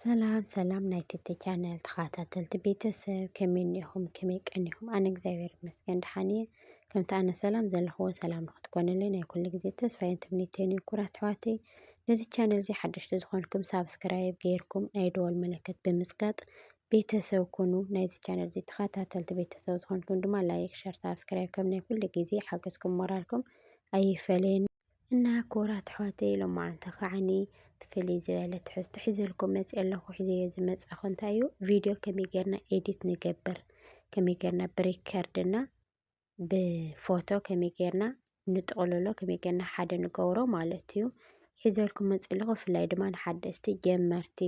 ሰላም ሰላም ናይ ቲቲ ቻነል ተኸታተልቲ ቤተሰብ ከመይ እኒኹም ከመይ ቀኒኹም? ኣነ እግዚኣብሔር ይመስገን ደሓን እየ። ከምቲ ኣነ ሰላም ዘለኹዎ ሰላም ንክትኮንለይ ናይ ኩሉ ግዜ ተስፋዬን ትምኒተይን እዩ። ኩራት ኣሕዋተይ ነዚ ቻነል እዚ ሓደሽቲ ዝኾንኩም ሳብስክራይብ ገይርኩም ናይ ደወል መለከት ብምፅጋጥ ቤተሰብ ኩኑ። ናይዚ ቻነል እዚ ተኸታተልቲ ቤተሰብ ዝኾንኩም ድማ ላይክ፣ ሸር፣ ሳብስክራይብ ከም ናይ ኩሉ ግዜ ሓገዝኩም ሞራልኩም ኣይፈለየኒ። እና ክቡራት ኣሕዋተይ ሎማዓንቲ ከዓኒ ብፍልይ ዝበለ ትሕዝቶ ሒዘልኩም መፅእ ኣለኹ ሒዘዮ ዝመፃኹ እንታይ እዩ ቪድዮ ከመይ ጌርና ኤዲት ንገብር ከመይ ጌርና ብሪከርድ እና ብፎቶ ከመይ ጌርና ንጥቕልሎ ከመይ ጌርና ሓደ ንገብሮ ማለት እዩ ሒዘልኩም መፅእ ኣለኹ ብፍላይ ድማ ንሓደስቲ ጀመርቲ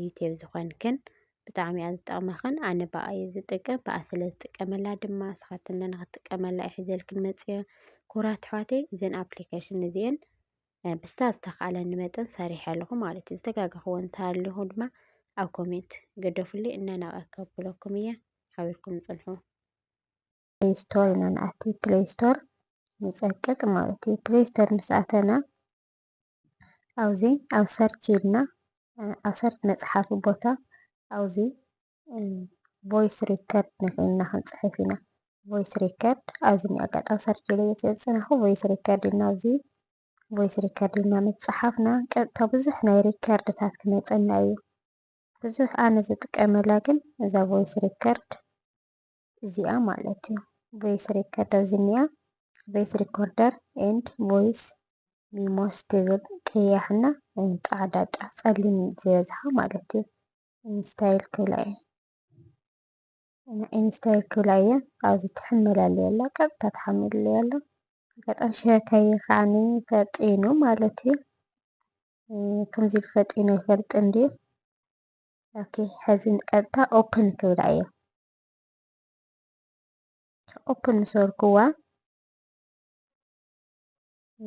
ዩቴብ ዝኾንክን ብጣዕሚ እያ ዝጠቕመኽን ኣነ ብኣ እየ ዝጥቀም ብኣ ስለ ዝጥቀመላ ድማ ንስኻትክን ንኽትጥቀመላ እየ ሒዘልክን መፂአ ክቡራት ኣሕዋተይ እዘን ኣፕሊኬሽን እዚአን ብስታ ዝተኻኣለኒ መጠን ሰሪሐ ኣለኹ ማለት እዩ ዝተጋገኽዎ እንተሃለኹ ድማ ኣብ ኮሜንት ገደፉልይ እናናቐ ከብለኩም እየ ሓቢርኩም ፅንሑ ፕሌይ ስቶር ኢና ንኣቲ ፕሌይ ስቶር ንፀቅጥ ማለት እዩ ፕሌይ ስቶር ምስ ኣተና ኣብዙ ኣብ ሰርች ኢልና ኣብ ሰርች መጽሓፊ ቦታ ኣብዚ ቮይስ ሪከርድ ንክኢልና ክንፅሕፍ ኢና ቮይስ ሪከርድ ኣብዚ ኣጋጣሚ ሰርች ኢለ ዘፅናኹ ቮይስ ሪከርድ ኢልና ኣብዚ ቮይስ ሪከርድ ኢልና ምፅሓፍና ቀጥታ ብዙሕ ናይ ሪከርድታት ክመፀና እዩ ብዙሕ ኣነ ዝጥቀመላ ግን እዛ ቮይስ ሪከርድ እዚኣ ማለት እዩ። ቮይስ ሬከርደር ዝኒኣ ቮይስ ሪኮርደር ኤንድ ቮይስ ሚሞስ ትብል ቀያሕና ፃዕዳ ጫ ፀሊም ዝበዝሓ ማለት እዩ። ኢንስታይል ክብላ እየ እና ኢንስታይል ክብላ እየ ኣብዚ ትሕመላለየ ኣላ ቀጥታ ትሓምልለይ ኣሎ ኣጋጣሚ ሸካየ ከዓኒ ፈጢኑ ማለት እዩ ከምዚ ኢሉ ፈጢኑ ኣይፈልጥን ድዩ ኦኬ ሕዚ ቀጥታ ኦፕን ክብላ እየ ኦፕን ምሰርኩዋ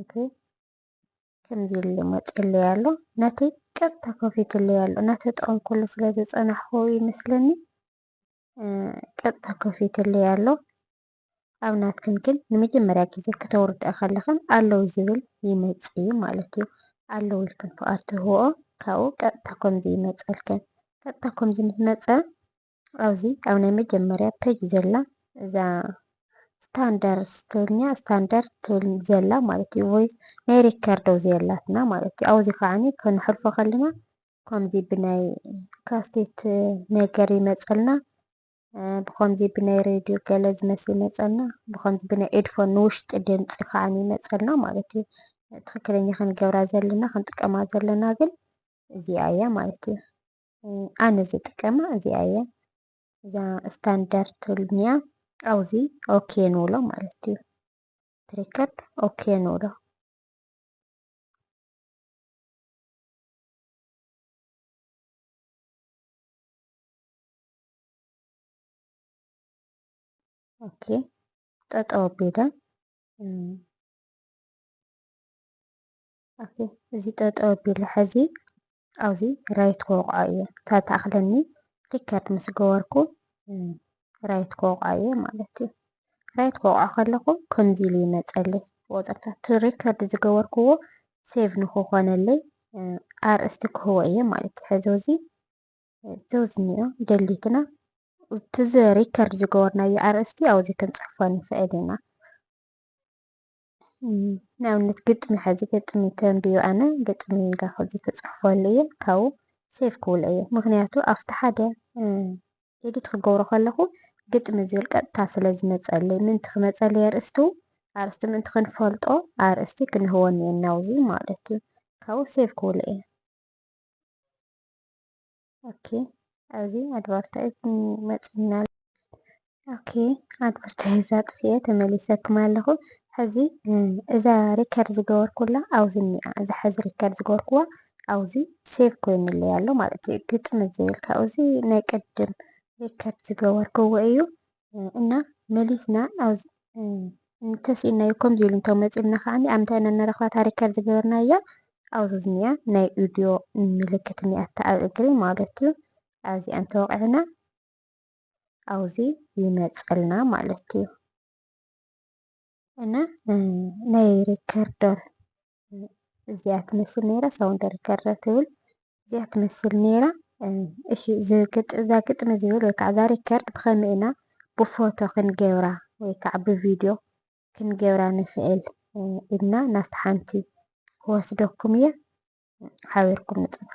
እቲ ከምዚ ኢሉ መፅለይ ኣሎ ነቲ ቀጥታ ከፊትለይ ኣሎ እናተጠቐምኩሉ ስለ ዝፀናሕኩ ይመስለኒ ቀጥታ ከፊትለይ ኣሎ ኣብ ናትክን ግን ንመጀመርያ ግዜ ከተውርድኣ ከለኽን ኣለዉ ዝብል ይመፅ እዩ ማለት እዩ ኣለዉ ኢልክን ፍቓድ ትህብኦ ካብኡ ቀጥታ ከምዚ ይመፀልክን ቀጥታ ከምዚ ምስ መፀ ኣብዚ ኣብ ናይ መጀመርያ ፔጅ ዘላ እዛ ስታንደር ስትብልኛ ስታንደር ትብል ዘላ ማለት እዩ ወይ ናይ ሪከርድ ኣብዚ ዘላትና ማለት እዩ ኣብዚ ከዓኒ ከንሕልፎ ከለና ከምዚ ብናይ ካስቴት ነገር ይመፀልና ብከምዚ ብናይ ሬድዮ ገለ ዝመስል ይመፀልና ብከምዚ ብናይ ኤድፎን ንውሽጢ ድምፂ ከዓኒ ይመፀልና ማለት እዩ ትክክለኛ ክንገብራ ዘለና ክንጥቀማ ዘለና ግን እዚኣ እያ ማለት እዩ ኣነ ዝጥቀማ እዚኣ እየ እዛ ስታንዳርድ ትብልንያ ኣብዚ ኦኬ ንብሎ ማለት እዩ ትሪከርድ ኦኬ ንብሎ ኦኬ ጠጠው ቢለን ኦኬ እዚ ጠጠው ኣቢለ ሕዚ ኣብዚ ራይት ክወቕዖ እየ እታ ትኣኽለኒ ሪከርድ ምስ ገበርኩ ራይት ክወቕዖ እየ ማለት እዩ ራይት ክወቕዖ ከለኹ ከምዚ ኢሉ ይመፀሊ ወፅርታት ሪከርድ ዝገበርክዎ ሴቭ ንክኾነለይ ኣርእስቲ ክህቦ እየ ማለት እዩ ሕዚ እዚ ዘውዚ እኒኦ ደሊትና እቲ ሪከርድ ዝገበርናዮ ኣርእስቲ ኣብዚ ክንፅሕፎ ንኽእል ኢና ንኣብነት ግጥሚ ሕዚ ግጥሚ ከንብዮ ኣነ ግጥሚ ኢልካ ከዚ ክፅሕፈሉ እየ ካብኡ ሴፍ ክብሎ እየ ምክንያቱ ኣብቲ ሓደ ኤዲት ክገብሮ ከለኹ ግጥሚ ዝብል ቀጥታ ስለ ዝመፀለይ ምንቲ ክመፀለይ ኣርእስቱ ኣርእስቲ ምንቲ ክንፈልጦ ኣርእስቲ ክንህወኒ እየ ናብዚ ማለት እዩ ካብኡ ሴፍ ክብሎ እየ ኦኬ ኣብዚ ኣድቨርታይዝ መፂና ኦኬ ኣድቨርታይዝ ኣጥፍኤ ተመሊሰኩም ኣለኹ ሕዚ እዛ ሪከርድ ዝገበርኩላ ኣብዚ እኒኣ እዛ ሕዚ ሪከርድ ዝገበርኩዋ ኣብዚ ሴቭ ኮይኑለይ ኣሎ ማለት እዩ ግጥም ዘይብል ካብዚ ናይ ቅድም ሪከርድ ዝገበርኩዎ እዩ እና መሊስና እንተስኢልናዮ ከምዚ ኢሉ እንተመፂኡልና ከዓ ኣብ እንታይ ኢና ንረኽባ ታሪክ ካብ ዝገበርናያ ኣብዚ ዝኒኣ ናይ ኡድዮ ምልክት እኒኣታ ኣብ እግሪ ማለት እዩ ኣብዚኣ እንተወቂዕና ኣብዚ ይመፀልና ማለት እዩ እና ናይ ሪከርደር እዚኣ ትመስል ነይራ ሳውን ደርከረ ትብል እዚኣ ትመስል ነይራ እሺ እዛ ግጥሚ ዝብል ወይ ከዓ እዛ ሪከርድ ብኸመይ ኢና ብፎቶ ክንገብራ ወይ ከዓ ብቪድዮ ክንገብራ ንኽእል ኢልና ናብቲ ሓንቲ ክወስደኩም እየ ሓቢርኩም ንፅንሑ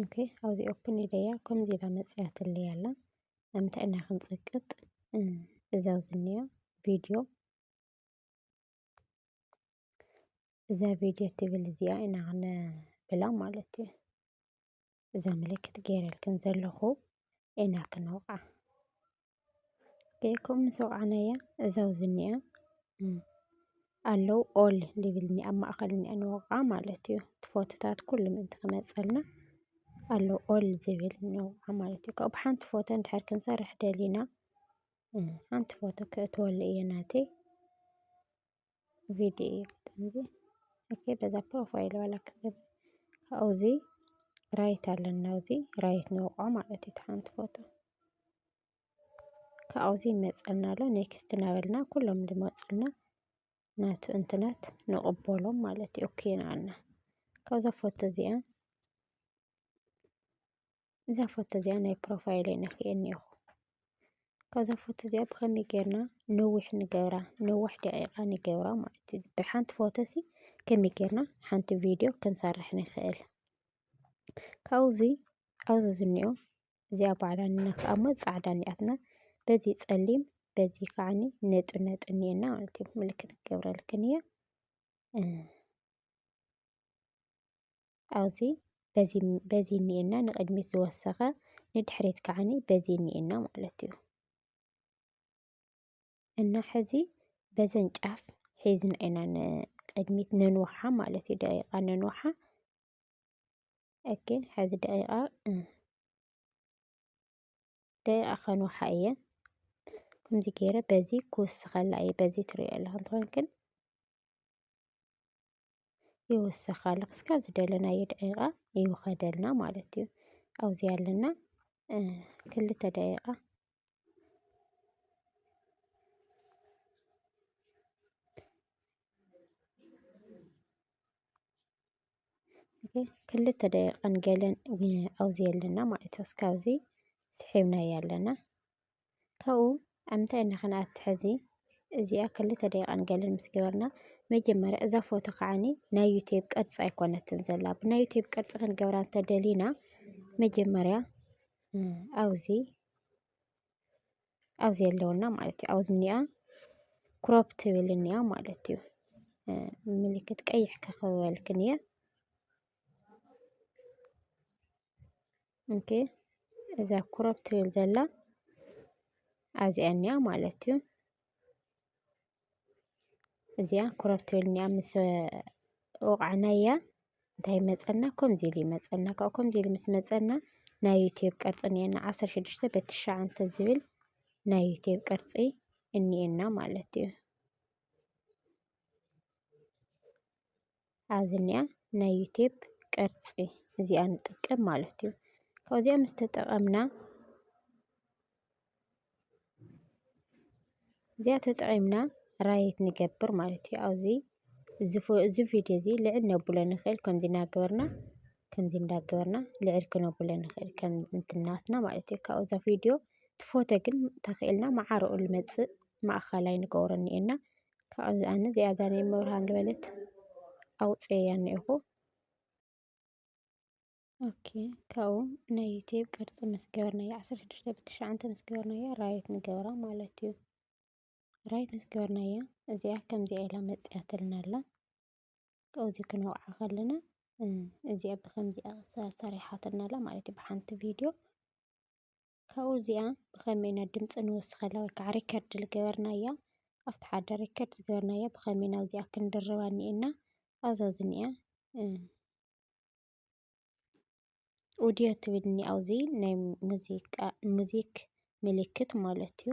ኦኬ ኣብዚ ኦፕን ኢለያ ከምዚ ኢላ መፅያትለይ ኣላ ንምንታይ ኢና ክንፅቅጥ እዛ ዝኒኣ ቪድዮ እዛ ቪድዮ ትብል እዚኣ ኢና ክንብላ ማለት እዩ እዛ ምልክት ገይረልክን ዘለኹ ኢና ክንወቕዓ ገይኩም ምስ ወቕዕናያ እዛ ኣብዚ እኒኣ ኣለው ኦል ሊብል እኒኣ ኣብ ማእኸል እኒኣ ንወቕዓ ማለት እዩ። እቲ ፎቶታት ኩሉ ምእንቲ ክመፀልና ኣለው ኦል ዝብል ንወቕዓ ማለት እዩ። ካብኡ ሓንቲ ፎቶ እንድሕር ክንሰርሕ ደሊና ሓንቲ ፎቶ ክእትወሉ እየ ናተይ። ቪዲዮ እዩ ገጠም እዚ ኦኬ በዛ ፕሮፋይል ዋላ ክገብ ካብኡ እዚ ራይት ኣለና እዚ ራይት ነውቆ ማለት እዩ ሓንቲ ፎቶ ካብኡ እዚ ይመፀና ኣሎ ኔክስት እናበልና ኩሎም ዝመፁና ናቱ እንትናት ንቕበሎም ማለት እዩ ኦኬ ንኣና ካብዛ ፎቶ እዚኣ እዛ ፎቶ እዚኣ ናይ ፕሮፋይል ነክኤ እኒኦኹ ካብዛ ፎቶ እዚኣ ብኸመይ ጌርና ነዊሕ ንገብራ ነዋሕ ደቂቃ ንገብራ ማለት እዩ ብሓንቲ ፎቶ ሲ ከመይ ጌርና ሓንቲ ቪድዮ ክንሰርሕ ንኽእል ካብዚ ኣብዚ ዝኒኦ እዚኣ ባዕላ ንነክኣ እሞ ፃዕዳ እኒኣትና በዚ ፀሊም በዚ ከዓኒ ነጡ ነጡ እኒኤና ማለት እዩ ምልክት ክገብረልክን እየ ኣብዚ በዚ በዚ እኒኤና ንቕድሚት ዝወሰኸ ንድሕሪት ከዓኒ በዚ እኒኤና ማለት እዩ እና ሕዚ በዘን ጫፍ ሒዝና ኢና ንቕድሚት ነንውሓ ማለት እዩ ደቂቓ ነንውሓ ኦኬ ሕዚ ደቂቓ ደቂቓ ከንውሓ እየ ከምዚ ገይረ በዚ ክውስኸላ እየ በዚ ትሪኦ ኣለኹም ትኾንክን ይውሰኻሉ ክስካብ ዝደለናዮ ደቂቃ ይውኸደልና ማለት እዩ። ኣብዚ ኣለና ክልተ ደቂቃ ክልተ ደቂቃን ገለን ኣብዚ ኣለና ማለት እዩ። እስካብዚ ስሒብናዮ ኣለና ካብኡ ኣብ ምንታይ ኢና ክንኣቱ ሕዚ እዚኣ ክልተ ደቂቃን ገለን ምስ ገበርና መጀመርያ እዛ ፎቶ ከዓኒ ናይ ዩቴብ ቅርፂ ኣይኮነትን ዘላ ብናይ ዩቴብ ቅርፂ ክንገብራ እንተደሊና መጀመርያ ኣብዚ ኣብዚ ኣለውና ማለት እዩ ኣብዚ እኒኣ ክሮፕ ትብል እኒኣ ማለት እዩ ምልክት ቀይሕ ከኸበልክን እየ ኦኬ እዛ ኩረብ ትብል ዘላ ኣብዚኣ እኒኣ ማለት እዩ እዚኣ ኩረብ ትብል እኒኣ ምስ ወቕዕናያ እንታይ መፀና ከምዚ ኢሉ ይመፀና ካብኡ ከምዚ ኢሉ ምስ መፀና ናይ ዩትብ ቅርፂ እኒኤና ዓሰርተ ሽዱሽተ በቲ ትሽዓተ ዝብል ናይ ዩትብ ቅርፂ እኒኤና ማለት እዩ ኣብዝኒኣ ናይ ዩቴብ ቅርፂ እዚኣ ንጥቀም ማለት እዩ። ካብዚኣ ምስ ተጠቐምና እዚኣ ተጠቒምና ራይት ንገብር ማለት እዩ። ኣብዚ እዚ ቪድዮ እዚ ልዕል ነብሎ ንኽእል ከምዚ እናገበርና ከምዚ እንዳገበርና ልዕል ክነብሎ ንኽእል ከም እንትናትና ማለት እዩ። ካብዛ ቪድዮ ትፎቶ ግን ተኽእልና መዓረኡ ልመፅእ ማእኸላይ ንገብሮ እኒኤና ካብዚ ኣነ እዚኣ እዛ ናይ እመብርሃን ዝበለት ኣውፅኤያ እኒኤኹ። ኦኬ ካብኡ ናይ ዩቲብ ቅርፂ ምስ ገበርናዮ ዓሰርተ ሽዱሽተ ብትሽዓንተ ምስ ገበርናዮ ራይት ንገብራ ማለት እዩ። ራይት ምስ ገበርናያ እዚኣ ከምዚኣ ኢላ መፂኣትልና ኣላ። ካብኡ እዚ ክንወቕዓ ከለና እዚኣ ብከምዚኣ ሰሪሓትልና ኣላ ማለት እዩ ብሓንቲ ቪድዮ ካብኡ እዚኣ ብኸመይ ኢና ድምፂ ንውስኸላ ወይ ከዓ ሪከርድ ዝገበርናያ ኣብቲ ሓደ ሪከርድ ዝገበርናያ ብኸመይ ናብዚኣ ክንድርባ እኒኤና ኣብዛ ዝኒኣ ኦዲዮ ትብል እኒኣ ኣብዚ ናይ ሙዚቃ ሙዚክ ምልክት ማለት እዩ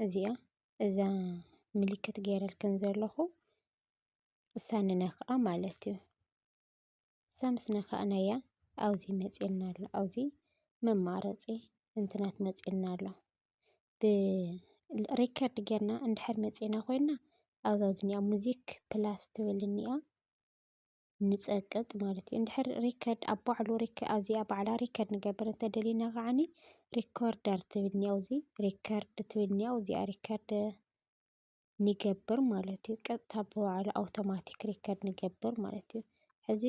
እዚኣ እዛ ምልክት ገይረልክን ዘለኹ እሳ ንነክኣ ማለት እዩ እሳ ምስ ነካእናያ ኣብዚ መፅልና ኣሎ ኣብዚ መማረፂ እንትናት መፅልና ኣሎ ብሪከርድ ጌርና እንድሕር መፅና ኮይና ኣብዛ ዝኒኣ ሙዚክ ፕላስ ትብል እኒኣ ንጸቅጥ ማለት እዩ። እንድሕር ሪከርድ ኣብ ባዕሉ ኣዚኣ ባዕላ ሪከርድ ንገብር እንተደሊና ከዓኒ ሪኮርደር ትብል እኒኣ ኣብዚ ሪከርድ ትብል እኒኣ እዚኣ ሪከርድ ንገብር ማለት እዩ። ቀጥታ ብባዕሉ ኣውቶማቲክ ሪከርድ ንገብር ማለት እዩ። ሕዚ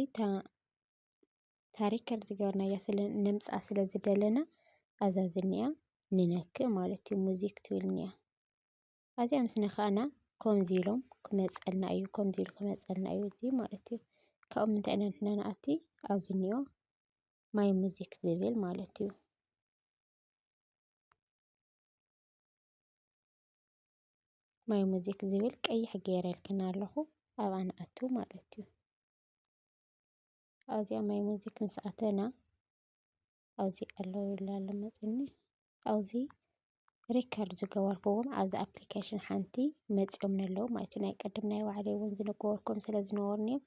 ታሪከርድ ዝገበርናያ ስለ ነምፅኣ ስለ ዝደለና ኣዛ ዝኒኣ ንነክእ ማለት እዩ። ሙዚክ ትብል እኒኣ ኣዚኣ ምስ ነካእና ከምዚ ኢሎም ክመጸልና እዩ ከምዚ ኢሉ ክመጸልና እዩ እዚ ማለት እዩ ካብኡ ምንታይ ኢና ንሕና ንኣቲ ኣብዚ እንኦ ማይ ሙዚክ ዝብል ማለት እዩ። ማይ ሙዚክ ዝብል ቀይሕ ገይረልክና ኣለኹ ኣብኣ ንኣቱ ማለት እዩ። ኣብዚኣ ማይ ሙዚክ ምስ ኣተና ኣብዚ ኣለዉ ይብሉ ኣሎ መጺኡኒ ኣብዚ ሪከርድ ዝገበርክዎም ኣብዚ ኣፕሊኬሽን ሓንቲ መጺኦምኒ ኣለዉ ማለት እዩ ናይ ቅድም ናይ ባዕለይ እውን ዝነገበርኩም ስለ ዝነበሩኒ እዮም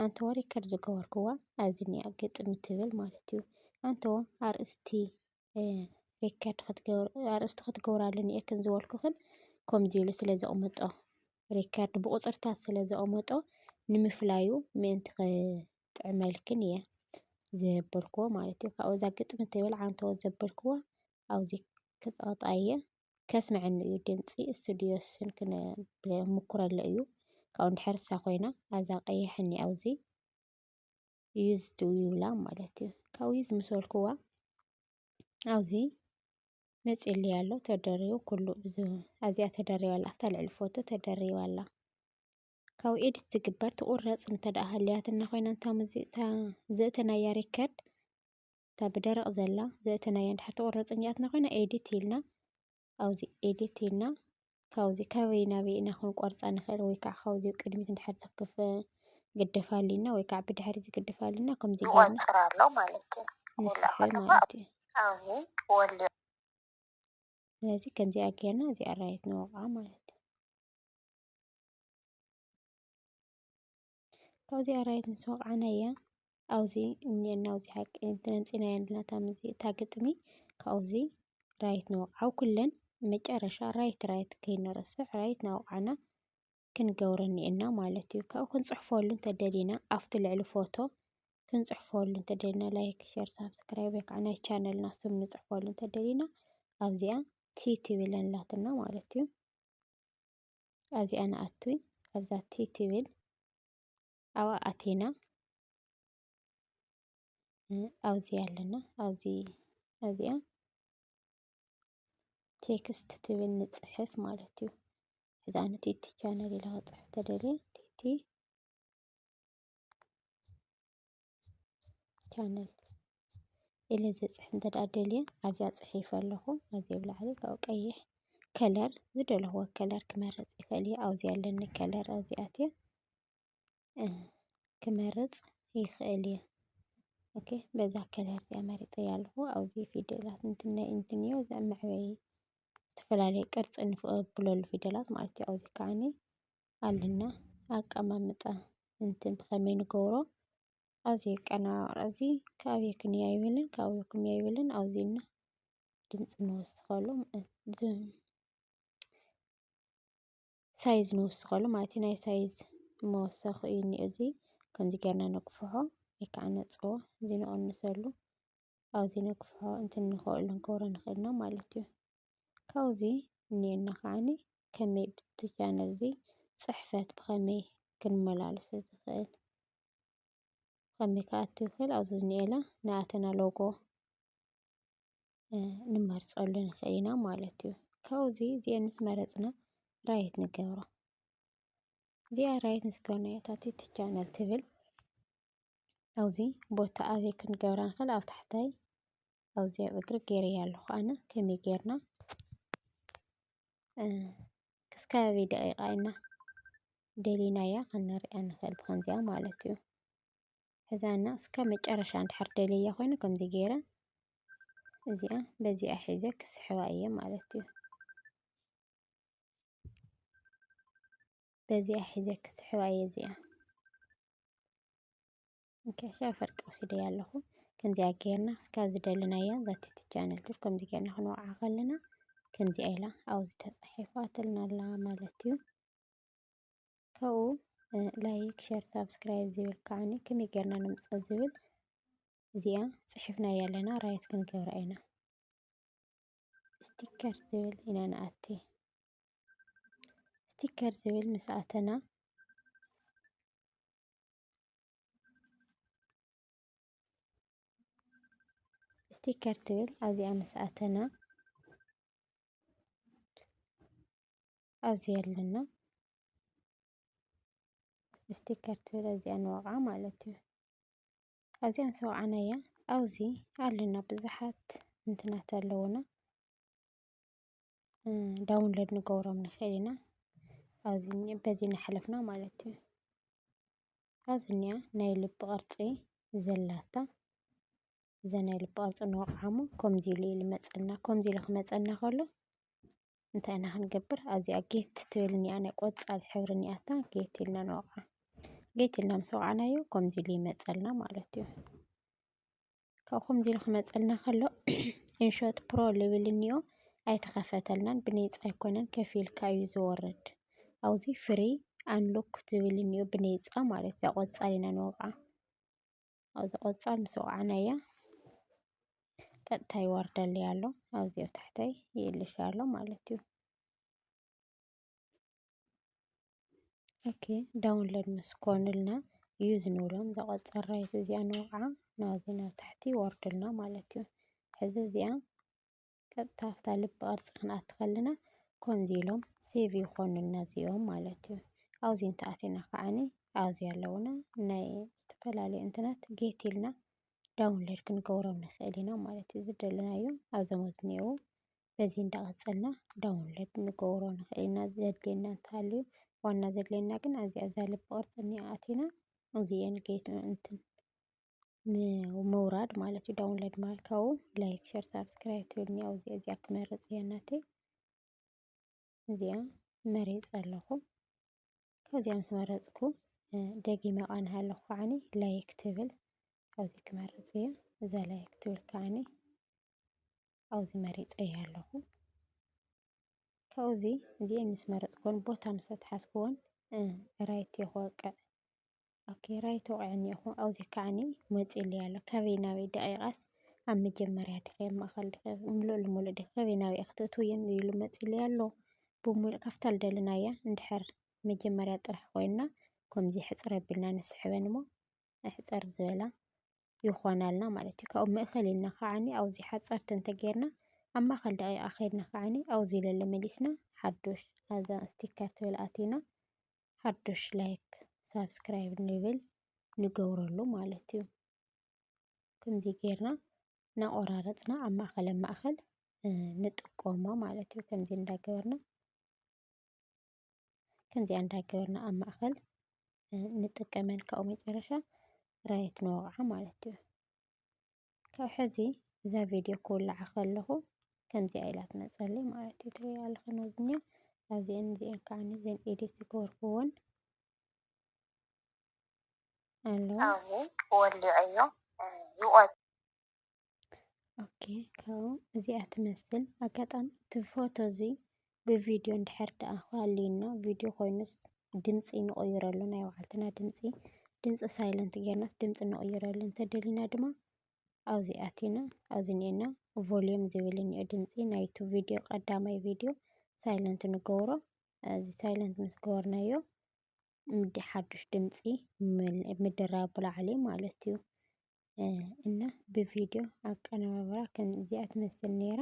ኣንተዎ ሪከርድ ዝገበርክዋ ኣብዚ እኒኣ ግጥሚ ትብል ማለት እዩ ኣንተዎ ኣርእስቲ ሪከርድ ክትገብር ኣርእስቲ ክትገብራሉ እኒኤክን ዝበልኩኽን ከምዚ ኢሉ ስለ ዘቕምጦ ሪከርድ ብቑፅርታት ስለ ዘቕምጦ ንምፍላዩ ምእንቲ ክጥዕመልክን እየ ዘበልክዎ ማለት እዩ ካብኡ እዛ ግጥሚ ትብል ዓንተዎ ዘበልክዎ ኣብዚ ክፀቕጣ እየ ከስምዐኒ እዩ ድምፂ ስቱድዮ ስን ክምኩረለ እዩ ካብኡ እንድሕር እሳ ኮይና ኣብዛ ቀይሕ እኒ ኣብዚ ዩዝ ትብላ ማለት እዩ ካብኡ ዩዝ ምስ በልክዋ ኣብዚ መፅሊ ኣሎ ተደሪቡ ኩሉ ብዙ ኣዚኣ ተደሪባ ኣላ ኣብታ ልዕሊ ፎቶ ተደሪባ ኣላ ካብ ኤዲት ዝግበር ትቑረፅ እንተደኣ ሃልያትና ኮይና እታ ሙዚቃ ዘእተናያ ሪከርድ እታ ብደረቕ ዘላ ዘእተናያ እንድሕር ትቑረፅ እኒኣትና ኮይና ኤዲት ኢልና ኣብዚ ኤዲት ኢልና ካብዚ ካበይ ናበይ ኢና ክንቆርፃ ንኽእል ወይ ከዓ ካብዚ ቅድሚት እንድሕር ዝክፍ ግደፍ ኣሊና ወይ ከዓ ብድሕሪ ዝግደፍ ኣሊና ከምዚ ይቆፅር ኣሎ ማለት እዩ ንስሐ ማለት እዩ ኣብዚ ወልዮ ስለዚ ከምዚኣ ጌርና እዚኣ ራይት ንወቕዓ ማለት እዩ ካብዚ ኣራዊት ምስ ወቕዓናያ ኣብዚ እኒኤና ኣብዚ ሓቂ ተነፂናያ ኣለና እታ ምዚ እታ ግጥሚ ካብዚ ራይት ንወቕዓ ኣብ ኩለን መጨረሻ ራይት ራይት ከይንረስዕ ራይት ናወቕዓና ክንገብሮ እኒኤና ማለት እዩ ካብኡ ክንፅሕፈሉ እንተደሊና ኣብቲ ልዕሊ ፎቶ ክንፅሕፈሉ እንተደሊና ላይክ ሸር ሳብስክራይብ ወይ ከዓ ናይ ቻነልና ስም ንፅሕፈሉ እንተደሊና ኣብዚኣ ቲ ትብል ኣላትና ማለት እዩ ኣብዚኣ ንኣቱ ኣብዛ ቲ ትብል ኣብኣ ኣቲና ኣብዚ ኣለና ኣብዚ ኣብዚኣ ቴክስት ትብል ንፅሕፍ ማለት እዩ እዛ ንቲ እቲ ቻነል ኢለ ክፅሕፍ ተደልየ ቲቲ ቻነል ኢለ ዘፅሕፍ እንተ ደኣ ደልየ ኣብዚኣ ፅሒፈ ኣለኹ ኣብዚ ኣብ ላዕሊ ካብኡ ቀይሕ ከለር ዝደለኹዎ ከለር ክመርፅ ይኽእል እየ ኣብዚ ኣለኒ ከለር ኣብዚ ኣትየ ክመርፅ ይኽእል እየ ኦኬ በዛ ከለር እዚኣ መሪፀ ኣለኹ ኣብዚ ፊደላት እንትን ናይ እንትን እዮ እዚ መዕበይ ዝተፈላለየ ቅርፂ ንብለሉ ፊደላት ማለት እዩ ኣብዚ ከዓኒ ኣልና ኣቀማምጣ እንትን ብኸመይ ንገብሮ ኣብዚ የቀናባብራ እዚ ካብይ ክንያ ይብልን ካብኡ ክንያ ይብልን ኣውዚና ድምፂ ንወስኸሉ ሳይዝ ንወስኸሉ ማለት እዩ ናይ ሳይዝ መወሰኺ እዩ እኒኦ እዚ ከምዚ ጌርና ነግፍሖ ወይ ከዓ ነፅቦ እዚ ንቕንሰሉ ኣብዚ ነግፍሖ እንትን ንኸእሉ ንገብሮ ንኽእልና ማለት እዩ ካብኡ እዚ እኔና ከዓኒ ከመይ ብቲ ቻነል እዚ ፅሕፈት ብኸመይ ክንመላለሶ ዝኽእል ብኸመይ ክኣቱ ይኽእል ኣብዚ ዝኒኤላ ንኣተና ሎጎ ንመርፀሉ ንኽእል ኢና ማለት እዩ ካብኡ እዚ እዚአን ምስ መረፅና ራይት ንገብሮ እዚኣ ራይት ምስ ገበርናዮ እታ ቲቲ ቻነል ትብል ኣብዚ ቦታ ኣበይ ክንገብራ ንኽእል ኣብ ታሕታይ ኣብዚ ኣብ እግሪ ገይረያ ኣለኹ ኣነ ከመይ ጌርና ክስካብ ኣበይ ደቂቃ ኢና ደሊናያ ክንሪኣ ንኽእል ብከምዚኣ ማለት እዩ ሕዛና እስካብ መጨረሻ እንድሕር ደልያ ኮይኑ ከምዚ ገይረ እዚኣ በዚኣ ሒዘ ክስሕባ እየ ማለት እዩ በዚኣ ሒዘ ክስሕባ እየ እዚኣ እንከሻ ፈርቂ ወሲደ ኣለኹ ከምዚኣ ጌርና እስካ ዝደለናያ ዛቲ ቻነል ዱር ከምዚ ጌርና ክንወዓ ከለና ከምዚኣ ኢላ ኣብዚ ተፃሒፋትልና ኣላ ማለት እዩ ካብኡ ላይክ ሸር ሳብስክራይብ ዝብል ከዓኒ ከመይ ጌርና ንምፅኦ ዝብል እዚኣ ፅሒፍናያ ኣለና ራይት ክንገብራ ኢና ስቲከር ዝብል ኢና ንኣቲ ስቲከር ዝብል ምስ ኣተና ስቲከር ትብል ኣብዚኣ ምስ ኣተና ኣብዚ ኣለና ስቲከር ትብል ኣብዚኣ ንወቕዓ ማለት እዩ ኣብዚኣ ምስ ወቕዓናያ ኣብዚ ኣለና ብዙሓት እንትናት ኣለዉና ዳውንሎድ ንገብሮም ንኽእል ኢና ኣብዚ በዚ እናሓለፍና ማለት እዩ። ኣብዚ እኒኣ ናይ ልቢ ቅርፂ ዘላታ እዛ ናይ ልቢ ቅርፂ እንወቕዓ እሞ ከምዚ ኢሉ እዩ ዝመፀና ከምዚ ኢሉ ክመፀና ከሎ እንታይ ኢና ክንገብር ኣብዚኣ ጌት ትብል እኒኣ ናይ ቆፃል ሕብሪ እኒኣታ ጌት ኢልና ንወቕዓ ጌት ኢልና ምስ ወቕዕናዮ ከምዚ ኢሉ ይመፀልና ማለት እዩ። ካብ ከምዚ ኢሉ ክመፀልና ከሎ እንሾት ፕሮ ልብል እኒኦ ኣይተኸፈተልናን ብነፃ ኣይኮነን ከፊልካ እዩ ዝወርድ ኣብዚ ፍሪ ኣንሎክ ዝብል እኒኦ ብነፃ ማለት እዛ ቆፃል ኢና ንወቕዓ ኣብዚ ቆፃል ምስ ወቕዓናያ ቀጥታ ይወርደልይ ኣሎ ኣብዚ ኣብ ታሕተይ ይእልሽ ኣሎ ማለት እዩ ኦኬ ዳውንሎድ ምስ ኮኑልና እዩ ዝንብሎም እዛ ቆፃራየት እዚኣ ንወቕዓ ናብዚ ናብ ታሕቲ ይወርድልና ማለት እዩ ሕዚ እዚኣ ቀጥታ ኣብታ ልቢ ቅርፂ ክንኣቲ ከለና ከምዚ ኢሎም ሴቭ ይኾኑልና እዚኦም ማለት እዩ ኣብዚ እንተኣቲና ከዓኒ ኣብዚ ኣለውና ናይ ዝተፈላለዩ እንትናት ጌት ኢልና ዳውንሎድ ክንገብሮም ንኽእል ኢና ማለት እዩ ዝደለናዮ ኣብዞም ዝኒአው በዚ እንዳቀፀልና ዳውንሎድ ንገብሮ ንክእል ኢና ዘድልየና እንተሃልዩ ዋና ዘድልየና ግን ኣብዚኣ እዛ ልቢ ቅርፂ እኒኣ ኣቲና እዚኤን ጌት እንትን ምውራድ ማለት እዩ ዳውንሎድ ማለት ካብኡ ላይክ ሸር ሳብስክራይብ ትብል እኒኣ እዚኣ እዚኣ ክመርፅ እየ ናተይ እዚኣ መሪፅ ኣለኹ ካብዚኣ ምስ መረፅኩ ደጊመ ቃንሃ ኣለኹ ከዓኒ ላይክ ትብል ኣብዚ ክመርፅ እየ እዛ ላይክ ትብል ከዓኒ ኣብ'ዚ መሪጸዮ ኣለኹ። ካብ'ዚ እዚኤን ምስ መረጽኩወን ቦታ ምስ ኣትሓዝኩወን ራይት ክወቅዕ ኦኬ ራይት ወቒዑኒ እኮ ኣብ'ዚ ከዓኒ መጺኡለይ ኣሎ ካበይ ናበይ ደቒቓስ ኣብ መጀመርያ ድኺ ኣብ ማእከል ድኺ ምሉእ ልሙሉእ ድኺ ካበይ ናበይ ኢኺ ትእትውዮ ኢሉ መጺኡለይ ኣሎ ብምሉእ ካብታ ልደለናያ እንድሕር መጀመርያ ጥራሕ ኮይና ከም'ዚ ሕጽር ኣቢልና ንስሕበን እሞ ሕጽር ዝበላ ይኾናልና ማለት እዩ። ካብኡ ምእኸል ኢልና ከዓኒ ኣውዚ ሓፀርቲ እንተገይርና ኣብ ማእኸል ደቂቃ ከይድና ከዓኒ ኣውዚ ለለ መሊስና ሓዱሽ ኣዛ ስቲከር ትብል ኣቲና ሓዱሽ ላይክ ሳብስክራይብ ንብል ንገብረሉ ማለት እዩ። ከምዚ ገይርና እናቆራረፅና ኣብ ማእኸል ኣብ ማእኸል ንጥቀሞ ማለት እዩ። ከምዚ እንዳገበርና ከምዚኣ እንዳገበርና ኣብ ማእኸል ንጥቀመን ካብኡ መጨረሻ ራየት ንወቕዓ ማለት እዩ ካብ ሕዚ እዛ ቪድዮ ክውልዓ ከለኹ ከምዚኣ ኢላ ትመፀለይ ማለት እዩ ትሪኦ ኣለኹ ነዚኛ ኣዚአን እዚአን ከዓ ነዚአን ኤዲት ዝገበርኩዎን ኣለዋ ወሊዐዮ ይቆ ኦኬ ካብኡ እዚኣ ትመስል ኣጋጣሚ እቲ ፎቶ እዚ ብቪድዮ እንድሕር ደኣ ሃልዩና ቪድዮ ኮይኑስ ድምፂ ንቕይረሉ ናይ ባዕልትና ድምፂ ድምፂ ሳይለንት ጌርናስ ድምፂ ንቕይረሉ እንተደሊና ድማ ኣብዚ ኣቲና ኣብዚ እኒኤና ቮሊዩም ዝብል እኒኦ ድምፂ ናይቲ ቪድዮ ቀዳማይ ቪድዮ ሳይለንት ንገብሮ እዚ ሳይለንት ምስ ገበርናዮ ሓዱሽ ድምፂ ምድራብ ብላዕሊ ማለት እዩ እና ብቪድዮ ኣቀነባብራ ከምዚኣ ትመስል ነይራ።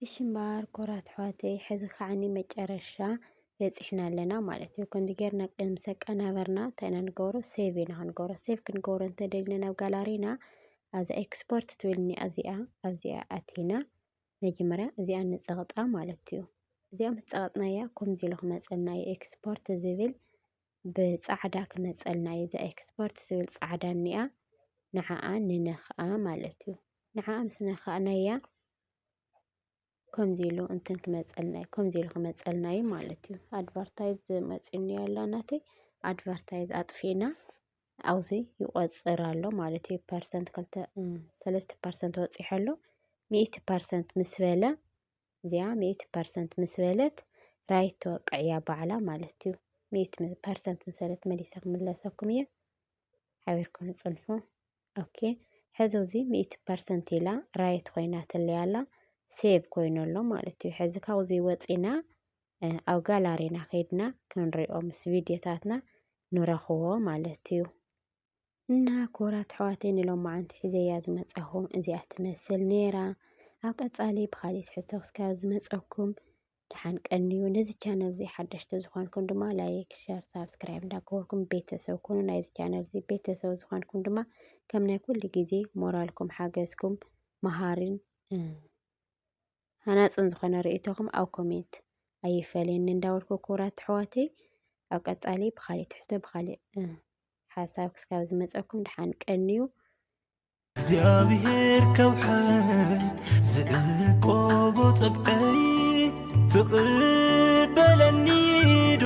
እሺ እምበኣር ኮራት ኣሕዋተይ ሕዚ ከዓኒ መጨረሻ በፂሕና ኣለና ማለት እዩ። ከምዚ ጌርና ምስ ኣቀናበርና እንታይ ኢና ንገብሮ ሴቭ ኢና ክንገብሮ። ሴቭ ክንገብሮ እንተደሊና ናብ ጋላሪና ኣብዛ ኤክስፖርት ትብልኒ ኣዚኣ ኣብዚኣ ኣቲና መጀመርያ እዚኣ ንፀቕጣ ማለት እዩ። እዚኣ ምስ ፀቐጥናያ ከምዚ ኢሉ ክመፀና እዩ ኤክስፖርት ዝብል ብፃዕዳ ክመፀልና እዩ። እዛ ኤክስፖርት ዝብል ፃዕዳ እኒኣ ንዓኣ ንነኽኣ ማለት እዩ። ንዓኣ ምስ ነኻእናያ ከምዚ ኢሉ እንትን ክመፀልና እዩ። ከምዚ ኢሉ ክመፀልና እዩ ማለት እዩ። ኣድቨርታይዝ መፂኡኒ ኣሎ ናተይ ኣድቨርታይዝ ኣጥፊእና ኣብዚ ይቆፅር ኣሎ ማለት እዩ። ፐርሰንት ክልተ ሰለስተ ፐርሰንት ወፂሑ ኣሎ። ሚእቲ ፐርሰንት ምስ በለ እዚኣ ሚእቲ ፐርሰንት ምስ በለት ራይት ተወቅዕ እያ ባዕላ ማለት እዩ። ሚእቲ ፐርሰንት ምስ በለት መሊሰ ክምለሰኩም እየ። ሓቢርኩም ንፅንሑ ኦኬ። ሕዚ እዚ ሚእቲ ፐርሰንት ኢላ ራይት ኮይና ትለይ ኣላ ሴቭ ኮይኑ ኣሎ ማለት እዩ። ሕዚ ካብዚ ወፂና ኣብ ጋላሪና ከይድና ክንሪኦ ምስ ቪድዮታትና ንረኽቦ ማለት እዩ እና ክቡራት ኣሕዋተይ ንሎማዓንቲ ሒዘያ ዝመፃኹ እዚኣ ትመስል ነይራ ኣብ ቀፃሊ ብካሊእ ትሕዝቶ ክስካብ ዝመፀኩም ደሓን ቀንዩ ነዚ ቻነል እዚ ሓደሽቲ ዝኾንኩም ድማ ላይክ ሸር ሳብስክራይብ እንዳገበርኩም ቤተሰብ ኩኑ ናይዚ ቻነል እዚ ቤተሰብ ዝኾንኩም ድማ ከም ናይ ኩሉ ግዜ ሞራልኩም ሓገዝኩም መሃሪን ሃናፅን ዝኾነ ርእይቶኹም ኣብ ኮሜንት ኣይፈለየኒ እንዳበልኩ ክቡራት ኣሕዋተይ ኣብ ቀፃሊ ብካሊእ ትሕዝቶ ብካሊእ ሓሳብ ክስካብ ዝመፀኩም ድሓን ቀንዩ እግዚኣብሔር ከውሕን ዝዕቆቦ ፀብቀይ ትቕበለኒ ዶ